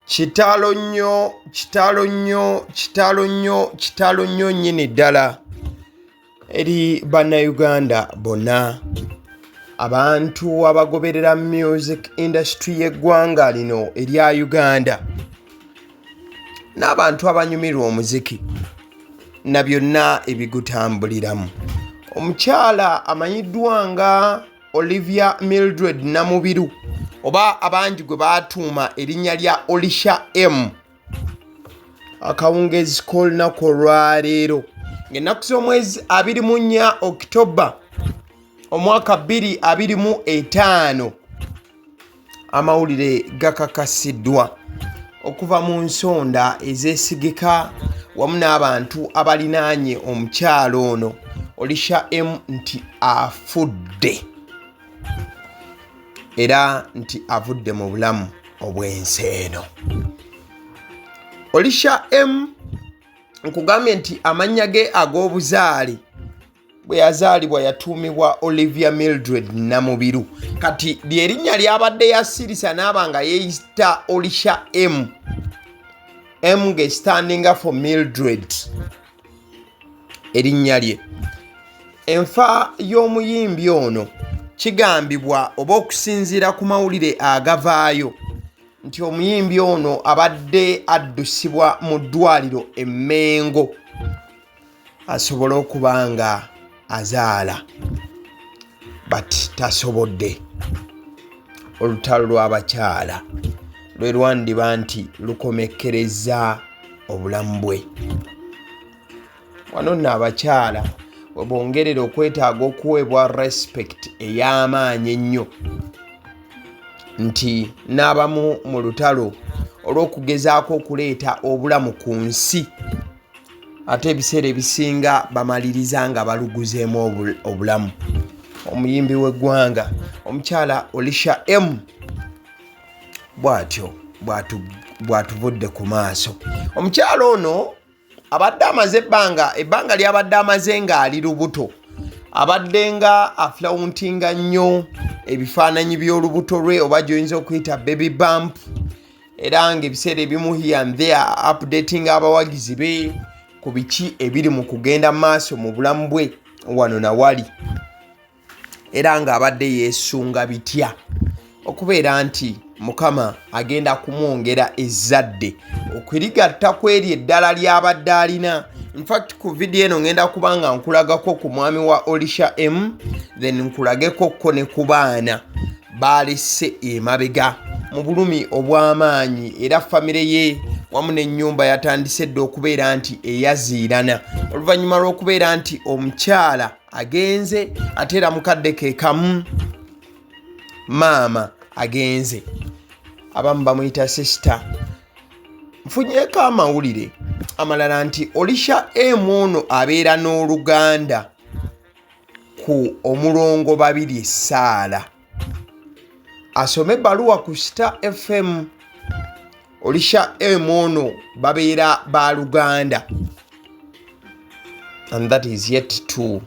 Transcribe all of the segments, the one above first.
kitalo nnyo kitalo nnyo kitalo nnyo kitalo nnyo nnyini ddala eri bannayuganda bonna abantu abagoberera music industry y'eggwanga lino erya uganda n'abantu abanyumirwa omuziki na byonna ebigutambuliramu omukyala amanyiddwa nga olivia mildred namubiru oba abangi gwe batuuma erinnya lya olisha m akawungeezi k'olunaku olwaleero ng'ennaku z'omwezi 24 okitoba omwaka 225 amawulire gakakasiddwa okuva mu nsonda ezeesigika wamu n'abantu abalinaanye omukyalo ono olisha m nti afudde era nti avudde mu bulamu obw'ensi eno olisha m nkugambye nti amannya ge ag'obuzaale bwe yazaalibwa yatuumibwa olivia mildred namubiru kati lyerinnya lyabadde yasirisa naaba nga yeeyita olisha m m ngestandinga for mildred erinnya lye enfa y'omuyimbi ono kigambibwa oba okusinziira ku mawulire agavaayo nti omuyimbi ono abadde addusibwa mu ddwaliro emmengo asobole okuba nga azaala but tasobodde olutalo lw'abakyala lwe lwandiba nti lukomekkereza obulamu bwe wano nno abakyala webongerera okwetaaga okuweebwa respect ey'amaanyi ennyo nti n'abamu mu lutalo olw'okugezaako okuleeta obulamu ku nsi ate ebiseera ebisinga bamaliriza nga baluguzeemu obulamu omuyimbi w'eggwanga omukyala olisha m bw'atyo bw'atuvudde ku maaso omukyala ono abadde amaze ebbanga ebbanga lyabadde amaze ng'ali lubuto abadde nga afulawuntinga nnyo ebifaananyi by'olubuto lwe oba gyoyinza okuyita baby bump era ng'ebiseera ebimu here and there updating abawagizi be ku biki ebiri mu kugenda maaso mu bulamu bwe wano na wali era ng'abadde yeesunga bitya okubeera nti mukama agenda kumwongera ezzadde okurigatta ku eryo eddala ly'abadde alina infact ku vidiyo eno ngenda kuba nga nkulagako ku mwami wa olisha m then nkulageko ko ne ku baana baalese emabega mu bulumi obw'amaanyi era famire ye wamu n'ennyumba yatandise dda okubeera nti eyaziirana oluvannyuma lw'okubeera nti omukyala agenze ate era mukadde ke kamu maama agenze abamu bamuyita sisita nfunyeko amawulire amalala nti olisha emu ono abeera n'oluganda ku omulongo babiri saala asome baluwa ku star fm olisha m ono babeera ba luganda and that is yet to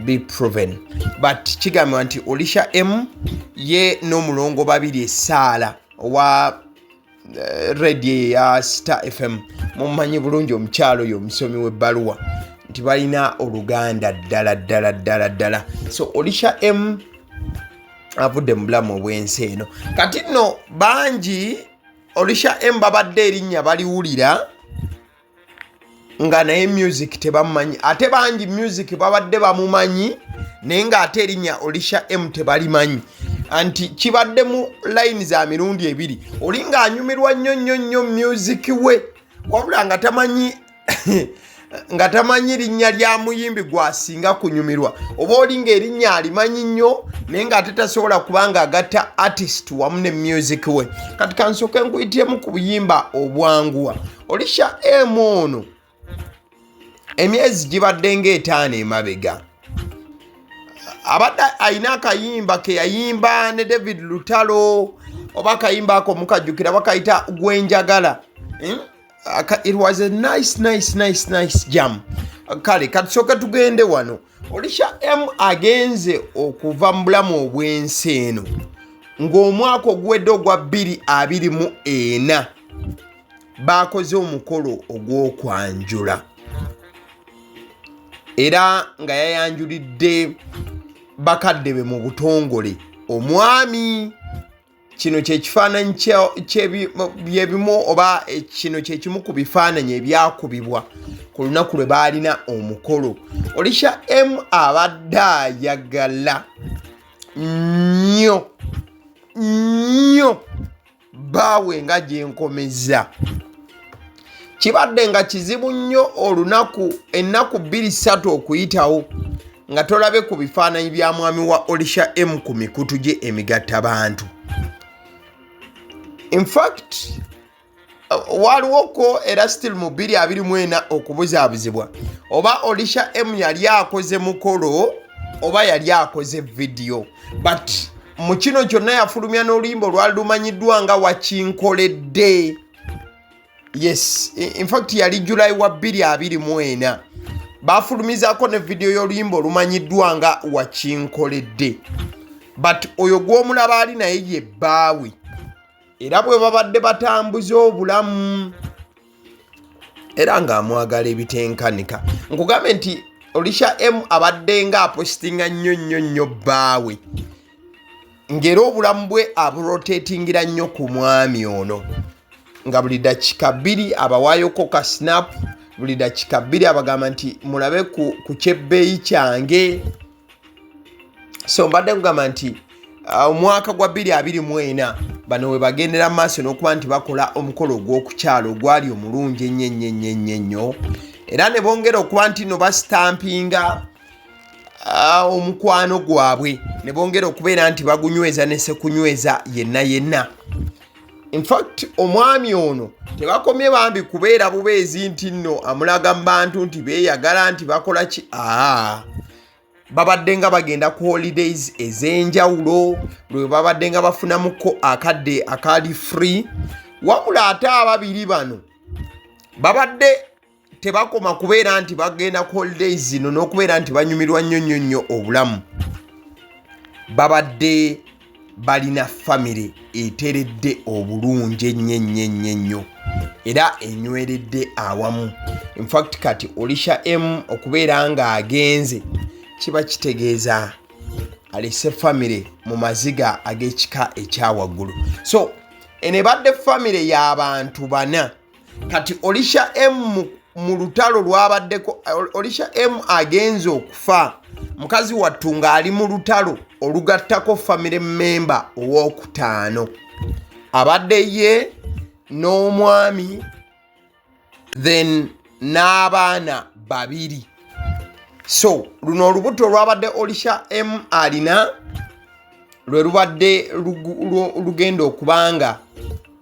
be proven but kigambibwa nti olisha m ye n'omulongo babiri esaala owa eh, radio eya star fm mumanyi bulungi omukyalo oyo omusomi webbaluwa nti balina oluganda ddala ddala ddala ddala so olisha m avudde mu bulamu obwensi eno kati nno bangi olisha m babadde erinnya baliwulira nga naye music tebamumanyi ate bangi music babadde bamumanyi naye ng'ate erinnya olisha m tebalimanyi anti kibadde mu layini za mirundi ebiri oli ng'anyumirwa nnyo nnyo nnyo music we wabula nga tamanyi nga tamanyi linnya lya muyimbi gwasinga kunyumirwa oba oli ngaerinnya alimanyi nnyo naye ngaate tasobola kuba nga agatta artist wamu ne music we kati kansooke nkuyitiremu ku buyimba obwanguwa olisha emu ono emyezi gibadde ng'etaano emabega abadde alina akayimba ke yayimba ne david lutalo oba akayimba ako mukajjukira bakayita gwenjagala hmm? it was a nice nice nice nice jam kale katusooka tugende wano olisha m agenze okuva mu bulamu obw'ensi eno ng'omwaka oguwedde ogwa 2 24 baakoze omukolo ogw'okwanjula era nga yayanjulidde bakadde be mu butongole omwami kino kyekifaananyi byebimu oba kino kyekimu ku bifaananyi ebyakubibwa ku lunaku lwe baalina omukolo olisha m abadde ayagala nnyo nnyo baawe nga gyenkomezza kibadde nga kizibu nnyo olunaku ennaku bbiri ssatu okuyitawo nga tolabe ku bifaananyi bya mwami wa olisha m ku mikutu gye emigatta bantu infact waliwoko era still mu 224 okubuzaabuzibwa oba olisha m yali akoze mukolo oba yali akoze vidiyo but mu kino kyonna yafulumya n'oluyimba olwali lumanyiddwa nga wakinkoledde yes infact yali july wa 224 baafulumizako ne vidiyo y'oluyimba olumanyiddwa nga wakinkoledde but oyo gw'omulaba ali naye ye bbaawe era bwe babadde batambuza obulamu era ng'amwagala ebitenkanika nkugambe nti olisha m abadde nga apositinga nnyo nnyo nnyo bbaawe ng'era obulamu bwe aburotatingira nnyo ku mwami ono nga buli dakika bbiri abawaayoko ka sinapu buli dakika bbiri abagamba nti mulabe ku kyebbeeyi kyange so mbadde kugamba nti uh, omwaka gwa 224 bano webagendera mu maaso n'okuba nti bakola omukolo ogw'okukyalo ogwali omulungi ennyo ennyo ennyo ennyo ennyo era ne bongera okuba nti no basitampinga uh, omukwano gwabwe ne bongera okubeera nti bagunyweza ne sekunyweza yenna yenna infact omwami ono tebakomye bambi kubeera bubeezi nti nno amulaga mu bantu nti beeyagala nti bakola ki aa babadde nga bagenda ku holidays ez'enjawulo lwe babadde nga bafunamuko akadde akaali free wabula ate ababiri bano babadde tebakoma kubeera nti bagenda ku holidays zino n'okubeera nti banyumirwa nnyo nnyo nnyo obulamu babadde balina famire eteredde obulungi ennyo ennyo ennyo ennyo era enyweredde awamu infact kati olisha m okubeera ng'agenze kiba kitegeeza alese famire mu maziga ag'ekika ekyawaggulu so eno ebadde famire y'abantu bana kati olisha m mu lutalo lwabaddeko olisha m agenze okufa mukazi wattu ng'ali mu lutalo olugattako famire memba owokutaano abadde ye n'omwami then n'abaana babiri so luno olubuto olwabadde olisha m alina lwe lubadde lugenda okubanga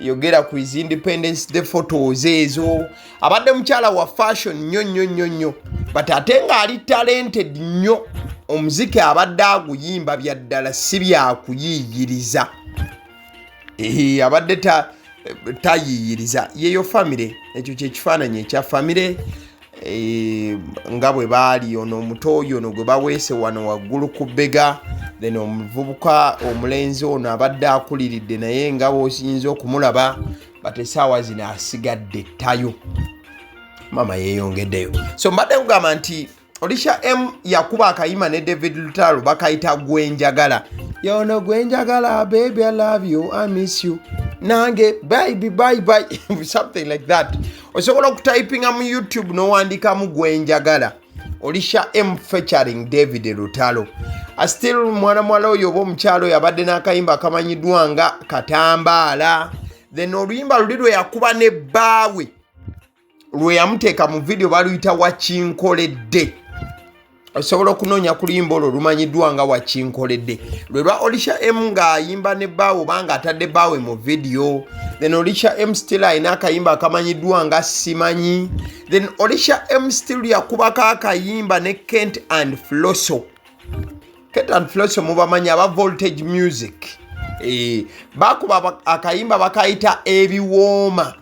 yogera ku his independence day photos ezo abadde mukyala wa fashion nnyo nnyo nnyo nnyo but ate ng'ali talented nnyo omuziki abadde aguyimba bya ddala si byakuyiiyiriza abadde tayiiyiriza yeyo famire ekyo kyekifaananyi ekya famire eh, nga bwe baali ono omuto oyo ono gwe baweese wano waggulu ku bbega then omuvubuka omulenzi ono abadde akuliridde naye nga bwosiyinza okumulaba but esaawa zino asigadde ttayo maama yeyongeddeyo so mbadde kugamba nti olisha m yakuba akayima ne david lutalo bakayita gwenjagala yono gwenjagala baby i love you i miss you nange baibi baibi something like that osobola okutayipinga mu youtube nowandikamu gwenjagala olisha m featuring david lutalo astil mwana muwala oyo oba omukyalo oyo abadde n'akayimba akamanyiddwa nga katambaala then oluyimba luli lwe yakuba ne bbaawe lwe yamuteeka mu vidiyo baluyita wakinkoledde osobola okunoonya ku luyimba olwo lumanyiddwa nga wakinkoledde lwe lwa olisha m ng'ayimba ne baawe oba ng'atadde baawe mu vidiyo then olisha m still alina akayimba akamanyiddwa nga simanyi then olisha m still yakubako akayimba ne kent and floso kent and floso mubamanyi aba voltage music e, bakuba akayimba bakayita ebiwooma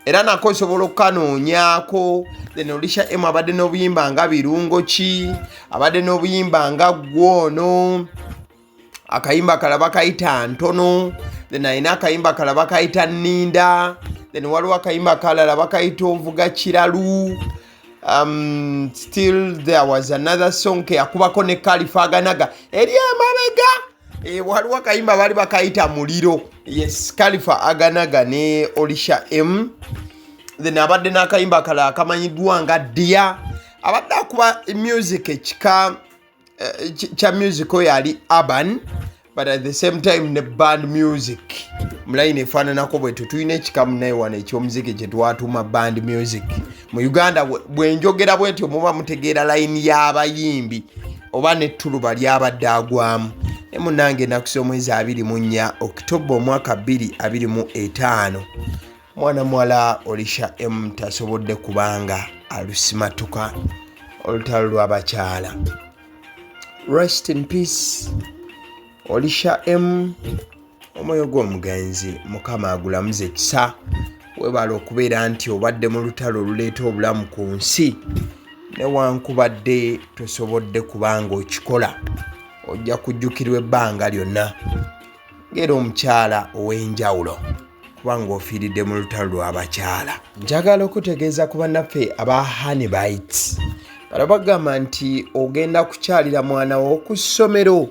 era nako osobola okukanoonyaako then olisha emu abadde n'obuyimba nga birungo ki abadde n'obuyimba nga gwoono akayimba kalaba kayita ntono then alina akayimba kalaba kayita ninda then waliwo akayimba kalala bakayita ovuga kiralu um, still there was another song keyakubako ne kalifaganaga eri emabega e, eh, waliwo akayimba baali bakayita muliro yes kalifa aganaga ne olisha m then abadde n'akayimba kala akamanyiddwa nga dia abadde akuba music ekika eh, kya music oyo ali urban but at the same time ne band music mulayini efaananako bwetu tulina ekikamu naye wano ekyomuziki kyetwatuma band music mu uganda bwenjogera bwentyo muba mutegeera layini y'abayimbi oba nettuluba lyabadde agwamu ne munange enaku z'omwezi abiri mu nnya okitoba omwaka bbiri abiri mu etaano mwana muwala olisha m tasobodde kubanga alusimatuka olutalo lwabakyala rest in peace olisha m omwoyo gw'omugenzi mukama agulamuza ekisa webala okubeera nti obadde mu lutalo oluleeta obulamu ku nsi newankubadde tosobodde kubanga okikola ojja kujjukirwa ebbanga lyonna ngaera omukyala ow'enjawulo kuba ng'ofiiridde mu lutalo lw'abakyala njagala okutegeeza ku bannaffe aba hanibites bala bagamba nti ogenda kukyalira mwana wo ku ssomero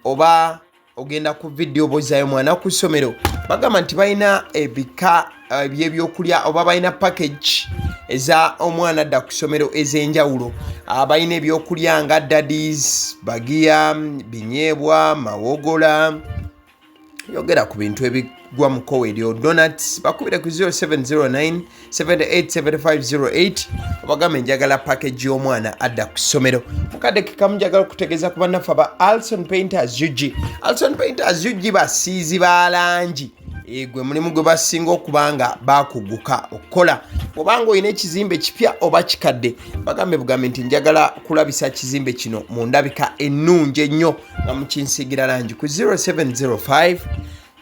oba ogenda ku vidiyo obozayo mwana ku ssomero bagamba nti balina ebika eh, ebyebyokulya oba balina package eza omwana adda ku ssomero ez'enjawulo ah, balina ebyokulya nga dadis bagiya binyeebwa mawogola yogera ku bintu ebigwa mu kowe eryo donats bakubire ku 0709 787508 obagambe njagala package y'omwana adda ku ssomero mukadde kekamu njagala okutegeeza ku bannaffe aba alson painters ug alson painters ug basiizi ba langi Eh, gwe mulimu gwe basinga okuba nga bakuguka okukola obanga olina ekizimbe kipya oba kikadde bagambe bugambe nti njagala kulabisa kizimbe kino mu ndabika ennungi ennyo nga mukinsiigira langi ku 0705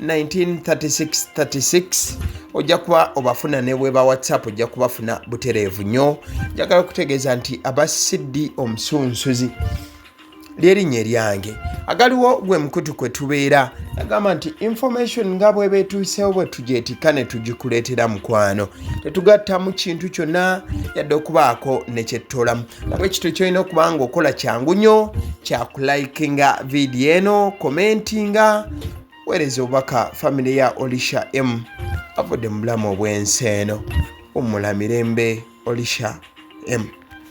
193636 ojja kuba obafuna ne bweba whatsapp ojja kubafuna butereevu nnyo njagala okutegeeza nti aba cd omusunsuzi lyerinnya eryange agaliwo gwe mukutu kwe tubeera agamba nti information nga bweba etuuseewo bwe tugyetikka ne tugikuleetera mukwano tetugatta mu kintu kyonna yadde okubaako nekyettoolamu bwekityo kyolina okuba nga okola kyangu nnyo kyakulayikinga vidiyo eno komentinga weereza obubaka famiry ya olisha m avudde mu bulamu obw'ensi eno ommula mirembe olisha m